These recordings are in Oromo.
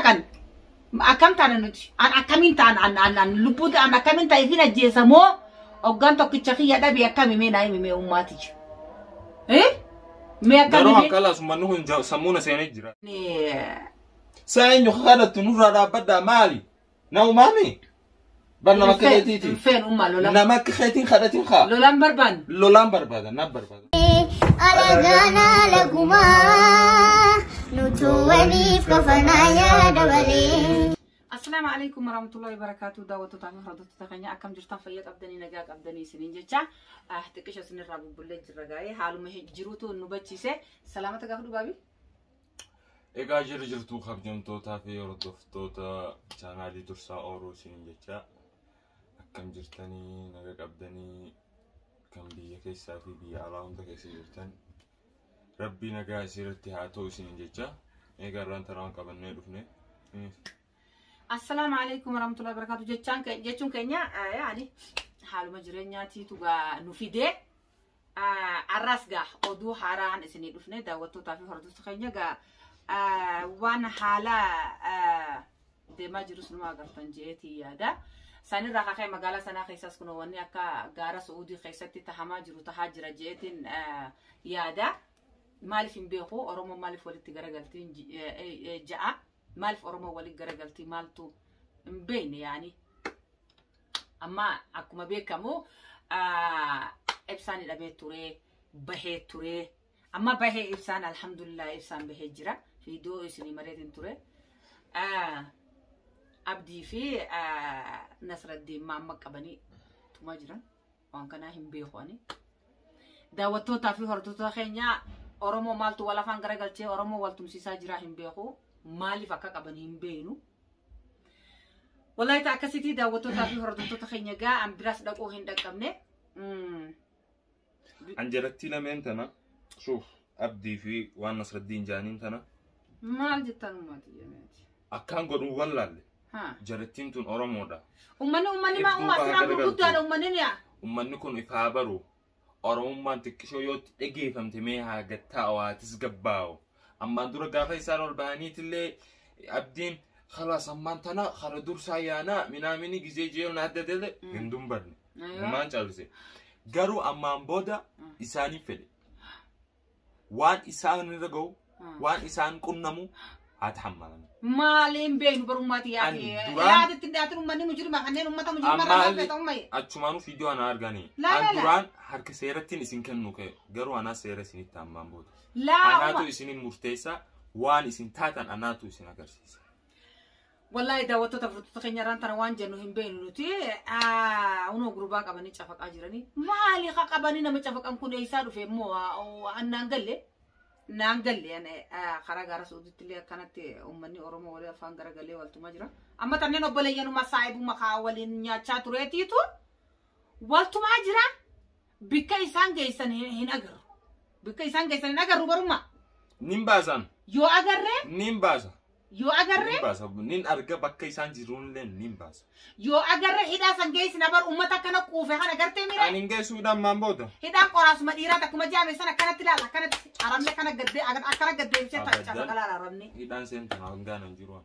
kan akkam taana nuti an akkamiin taan an an an lubbuu ta'an akkamiin ta'e fin ajjeesa moo oggaan tokkicha kiyya dhabe akkami mee naa himi mee ummaati jira eh mee akkami Garuu mee hanqalaa sun manni kun ja- sammuuna seenee jira. Saa eenyu kadhattu nurraa dhaabbadhaa maali? Na umaami? Bar nama akka keetiiti. Hin feenu ummaa lola. Nama akka keetiin kadhatiin kaa. Lolaan barbaanne. Lolaan barbaada na barbaada. Alagaana lagumaa nutu waliif kafanaa yaada malee. Assalaamu alaikum warahmatullahi wabarakatuh daawwattoota fi hordoftoota keenya akkam jirtan fayyaa qabdanii nagaa qabdanii isiniin jecha ah, xiqqisha isinirraa bubbullee jirra gaa'ee haaluma jiruutu nu bachiise salaamata gaafa dhugaabi Egaa jirri jirtuu kabjamtootaa fi hordoftoota chaanaalii dursaa ooluu isiniin jecha akkam jirtanii naga qabdanii kan biyya keessaa fi biyya alaa hunda keessa jirtan rabbii nagaa isiirratti haa ta'u isiniin jecha egaa irraan taraan qabannee dhufne. Assalaamu alaikum warahmatullahi wabarakatuh jechaan ke- jechuun keenya eh, yaani haaluma jireenyaatiitu gaa nu fidee Arraas gaa oduu haaraan isinii dhufne daawwattootaa fi hordoftoota keenya gaa waan haala deemaa jirus numa agartan jeetii yaada. Sanirraa kaka'e magaalaa sanaa keessaas kun wanni akka gaara Su'uudii keessatti tahamaa jiru tahaa jira jeetiin yaada. Maaliif hin beeku Oromoon maaliif walitti garagaltiin ja'a. Maalif Oromoo waliin garagaltii maaltu hin beekne yaani. Amma akkuma beekamu ibsaan hidhamee turee bahee turee. Amma bahee ibsaan alhamdulillah ibsaan bahee jira. Viidiyoo isinii mareetiin ture. Abdii fi Nasraddiin maamma qabanii tumaa jiran. waan kanaa hin beeku ani daawwattootaa fi hordoftoota keenya oromoo maaltu wal afaan garagalchee oromoo wal tumsiisaa jiraa hin beeku maaliif akka qaban hin beeknu wallaayita akkasitii daawwattootaa fi hordoftoota keenya gaa an biraas dhaquu hin dhaqqabne Mm. An jarattii lameen tana suuf abdii fi waan nasraddiin jaaniin tana maal jettan uummati jemeeti akkaan godhuun wallaalle Haa. Jarattiin tun Oromoodha. Ummanni ummanni maa Hedduu uumaa asirraa garagaru. gurguddaadha ummanni ni haa. Ummanni kun if haa baru. Oromummaan xiqqishoo yoo itti dhageeffamte mee haa gattaa'u haa tasgabbaa'u. Ammaan dura gaafa isaan ol bahaniitillee abdiin kalaas ammaan tana kara dursaa yaanaa minaamini gizee jeeyoon adda dele Mm. hin dumbanne. Aywa. Gumaan callise. Garuu ammaan booda isaaniif fedhe. waan isaan irra ga'u waan isaan qunnamu haa tahammalan. Maaliin beenu barummaati yaa Ani ta'e. duraan- Yaada ittiin dhiyaatin uummanni mujirima kanneen uummata mujirima Ammaa irraa illee- feeta uummaye. Achumaanuu viidiyoo ana arganii. Laa, An laa, laa. duraan harka seerattiin isin kennu ka'e garuu anaa seera isinitti hammaan booda. Laa Anaatu uumma. isinin murteessa waan isin taatan anaatu isin agarsiisa. Wallaahi daawwattoota furtuuta keenya irraan tana waan jennu hin beeknu nuti unoo gurbaa qabanii cafaqaa jiranii maali ka qabanii nama cafaqan kun eessaa dhufe immoo annaan galle naan galle karaa gaara suuditti illee akkanatti uummanni oromoo walii afaan gara galee waltumaa jira amma tanneen obboleeyyanuma saayibuma kaa waliin nyaachaa tureetiitu waltumaa jira Bikka isaan geessan hin hin agarru. Bikka isaan geessan hin agarru garummaa. Nin baasaan. Yoo agarree, Nin baasa. yoo Nin agarree, baasa. Nin arga bakka isaan jiruunillee nin baasa. yoo agarree hidhaa san geessina bar uummata akkana quufe kana gartee miira. Ani hin geessu hidhaan maan booda. Hidhaan qoraasuma dhiiraa takkuma jaame san akkanatti ilaala akkanatti arabni akkana gaddee akkana gaddeebisee ta'a Abadan. cafaqalaa arabni. Hidhaan seentan hangaan hin jiru.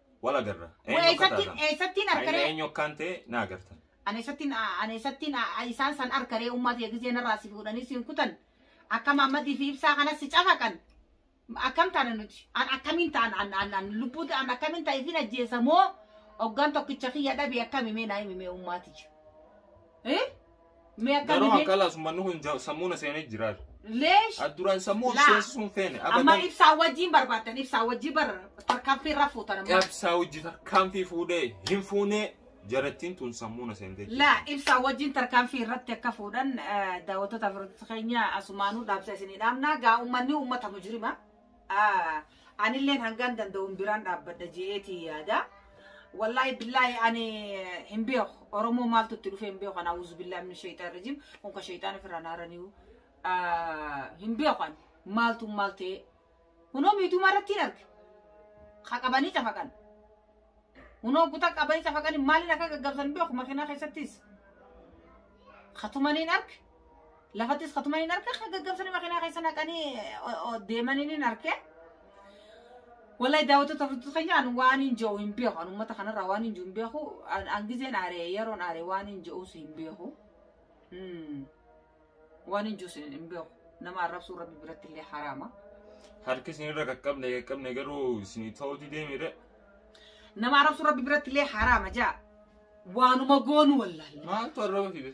Wal agarra. Wee Eenyu akka eessattiin taatan? eessattiin Haayina arkaree eenyu akkaan ta'e na agartan. ani eessattiin ani eessattiin isaan san arkaree ummaa ta'e gisee narraa si fuudhanii siin kutan akka maammadii fi ibsaa kanas si cafaqan akkam taana nuti an akkamiin ta'an an an an lubbuu ta'an akkamiin ta'e ifin ajjeesa moo oggaan tokkicha kiyya dhabe akkami mee naa himi mee ummaatiyya. Eh? Mee akka Garuu bibee- hanqalaas uummanni kun ja- sammuu na seenee jiraatu. Leesh. Adduraan sammuu Laa. seensisuu hin feene. Amma Abadan ibsaa wajjin barbaaddan ibsaa wajjin bar tarkaanfii irra fuutan amma. qabsaa hojii tarkaanfii fuudhee hin fuunee jarattiin tun sammuu na seentee jirti. Laa ibsaa wajjin tarkaanfii irratti akka fuudhan eh, daawwattoota Afirootis keenya asumaanuu dhaabsa isinii dhaabna. Gaa uummanni uummata mujirima. Anilleen hangan danda'uun biraan dhaabbadha je'eetii yaada. Wallaahi billaahi ani hin beeku. Oromoo maaltu itti dhufee hin beeku. Ana awuzu billaahi min shayxaan rajim. Kun ka shayxaan ofirraa naaraniiru. Hin beeku ani. Maaltu maal ta'ee. Kunoo miidhuma irratti hin arge. Ka qabanii cafaqan. Kunoo guta qabanii cafaqanii maaliin akka gaggabsan beeku makiinaa keessattis. Katumaniin arge. Lafattis katuman hin arke kan gaggabsanii makinaa keessa naqanii deemanii hin arke. Wallahi daawwattoota furtuu keenya an waan hin jiru hin beeku an uummata kanarraa waan hin jiru hin beeku an gizeen aaree yeroon aaree waan hin jiruus hin beeku. Waan hin jiruus hin beeku nama arrabsuu rabbi biratti illee haraama. Harki isinirra qaqqabne qaqqabne garuu isinii ta'uuti deemire. Nama arrabsuu rabbi biratti illee haraama jaa waanuma goonu wallaalle. Maaltu arraba fide?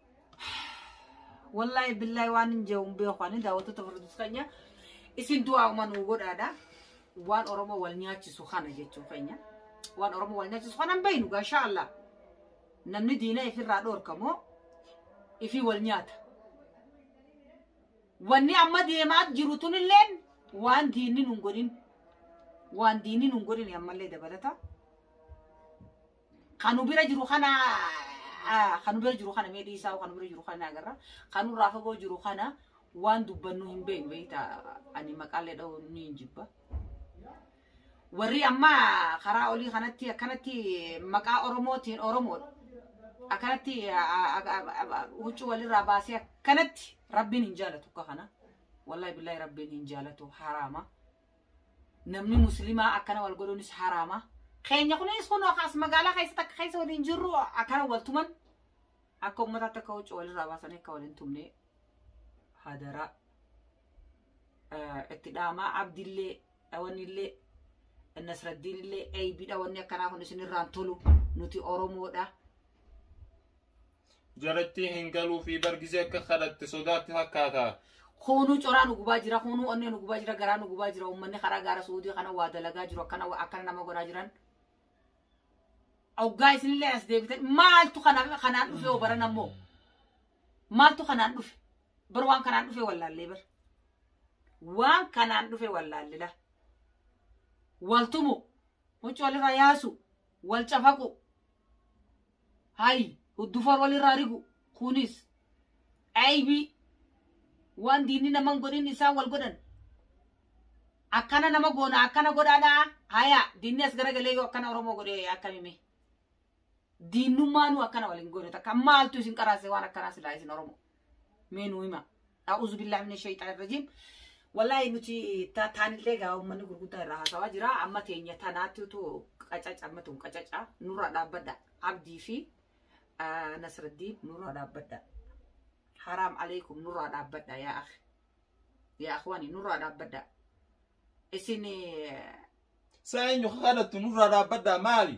Wallaahi billaahi waan hin jee'u hin beeku ani daawwattoota furdus keenya isin du'aa uuman nuu godhaadha. Waan Oromoo wal nyaachisu kana jechuun keenya. Waan Oromoo wal nyaachisu kana hin beeknu gaa inshaa Allah. Namni diina ifirraa dhoorka moo ifii wal nyaata. Wanni amma deemaa jiru tunilleen waan diinni nun godhin. Waan diinni nun godhin ammallee dabalata. Kan nu bira jiru kana ah, kan nu bira jiru kana mee dhiisaa kan nu bira jiru kana agarra. Kan nurraa fagoo jiru kana waan dubbannu hin beeknu beekta ani maqaalee dha'uu ni hin jibba. Warri amma karaa olii kanatti akkanatti maqaa Oromootiin Oromoodha. Akkanatti ah, ah, ah, ah, huccuu walirraa baasee akkanatti rabbiin hin jaalatu akka kana. Wallahi billahi rabbiin hin jaalatu haraama. namni muslimaa akkana wal godhuunis haraama keenya kunis kun as magaalaa keessatti akka keessa waliin jirru akkana wal tuman akka ummataatti akka huccuu walirraa baasanii akka waliin tumne hadaraa itti dhaamaa abdillee dhawanillee nasraddiinillee eeybidha wanni akkanaa kun isinirraan tolu nuti oromoodha jarattii hin galuu fi bar gizee akka kadhatte sodaatti fakkaata Kuunuu coraa nu gubaa jira, kuunuu onnee nu gubaa jira, garaa nu gubaa jira, uummanni karaa gaara suudii kana waa dalagaa jiru akkana waa- akkana nama godhaa jiran. Oggaa isinillee as deebitan maaltu kana kanaan dhufe hoo baran ammoo? Maaltu kanaan dhufe? Bar waan kanaan dhufe wallaallee bar. Waan kanaan dhufe wallaallila. Waltumu Huccu walirraa yaasu, wal cafaqu, hay huddufoor walirraa rigu kunis aybii waan diinni naman godhin isaan wal godhan akkana nama goona akkana godhaadha haya diinni as garagalee yoo akkana oromoo godhe akkamime Diinnummaa nuu akkana waliin goone takka maaltu isin qaraase waan akkanaa silaa isin Oromoo. Mee nuu hima. A'uuzu billaahi mina shayxaani rajiim. Wallaahi nuti ta- taanillee gaa uummanni gurguddaa irraa haasawaa jira. Amma teenya tanaatti utuu qacaca amma tun qacaca nurraa dhaabbadha. Abdii fi ah, Nasraddiin nurraa dhaabbadha. Haraam aleekum nurraa dhaabbadha yaa akhi. Yaa akhwaani nurraa dhaabbadha. Isin eh, Saa eenyu kadhattu nurraa dhaabbaddaa maali?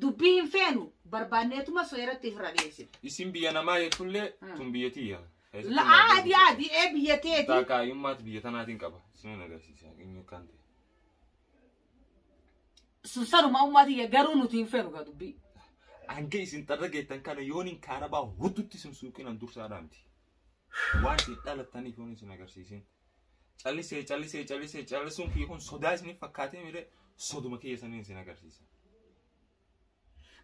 Dubbii hin feenu barbaanneetuma seeratti irra dhiyeessina. Isin biyya namaa jechuullee Hmm. tun biyya tiyya. Keessatti La- naaf Aadi beeku. aadi ee biyya teeti. Taakaayummaatti biyya tanaatiin qaba. Isinan agarsiisa. Eenyu akkaan ta'e. Sun sanuma ummaa tiyya garuu nuti hin feenu gaa dubbii. Hanga isin xarra geettan kana yoon hin kaarabaa hututti isin suuqinan dursaa dhaamti. Waan isin dhalattaniif yoon isin agarsiisin. Callisee callisee callisee callisuun kiyya kun sodaa isiniif fakkaatee mire soduma kiyya saniin isin agarsiisa.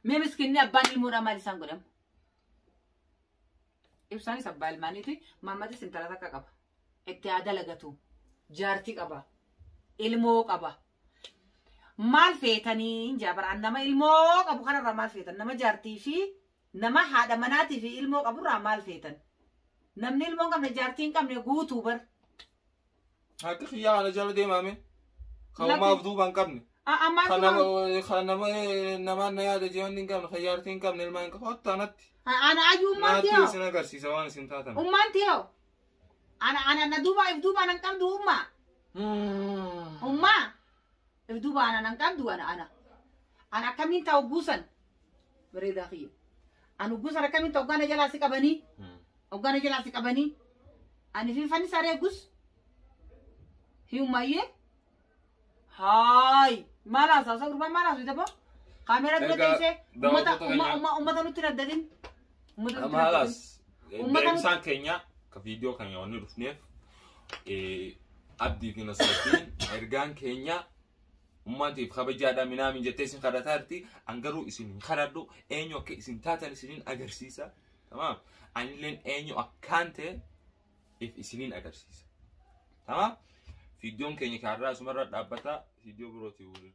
Mee miskinni abbaan ilmoodhaa maal isaan godhamu? Ibsaanis abbaa ilmaaniiti. Maammatis intala takka qaba. Itti haa dalagatu. Jaartii qaba. Ilmoo qaba. Maal feetanii hin jaabaraan nama ilmoo qabu kanarraa maal feetan nama jaartii fi Nama haadha manaatii fi ilmoo qaburraa maal feetan? Namni ilmoo hin qabne jaartii hin qabne guutuu bar. Haqa kiyyaa kana jala deemaame. Kan Lakki- umaaf duuba hin qabne. A- Ammaan Kan nama duuba kan nama namaan na yaada jiran hin qabne. Kan jaartii hin qabne ilmaan hin qabne. Hotta anatti. ana ayyuu ummaan Naatti tiyoo. isin agarsiisa waan isin taatan. Ummaan tiyoo. Ana ana na duuba if duuba nan qabdu ummaa. Ummaa. If duuba ana nan qabdu ana ana. Ana akkamiin ta'a hogguu san? Bareedaa kiyya. An hogguu san akkamiin ta'a hoggaana jalaa si qabanii? Hoggaana jalaa si qabanii? Ani fi fannisaa reegus? Hiyummayyee? Haay! Maal haasawsa gurbaan maal haasawita boo? Kaameeraa dura Erga teessee daawwattoota uummata keenya- uummata uummata nutti hin addatin. Uummata nutti Amma hagas hojjetan. Uummata deemsaan keenya ka viidiyoo keenya wanni dhufneef eh, abdii fi nasrattiin ergaan keenya ummatiif kabajaadha minaamin jettee isin kadhataa jirti an garuu isin hin kadhadhu eenyu akka isin taatan isinin agarsiisa tamaam anilleen eenyu akkaan ta'e if isinin agarsiisa tamaam viidiyoon keenya kaarraa asumarra dhaabbata viidiyoo birootii waliin